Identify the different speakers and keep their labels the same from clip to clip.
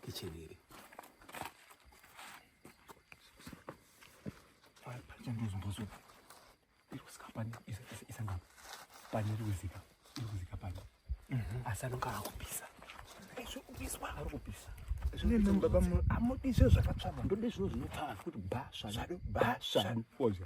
Speaker 1: Kitchen iri. Pari pari chandozo mbozo. Iri kusika pani isa isa isa ngam. Pani iri kusika. Iri kusika pani. Mhm. Asa nonga akupisa. Izvo kupiswa ari kupisa. Zvine
Speaker 2: namba pamu amodi izvo zvakatsvama. Ndode zvino zvinopfava kuti basha. Zvado basha. Foja.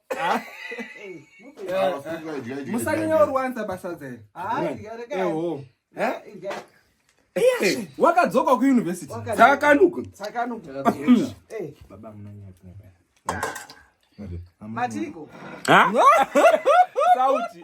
Speaker 2: musanyanya orwanza basa dzere wakadzoka kuuniversity
Speaker 1: tsakanuka
Speaker 3: matiko
Speaker 1: sauti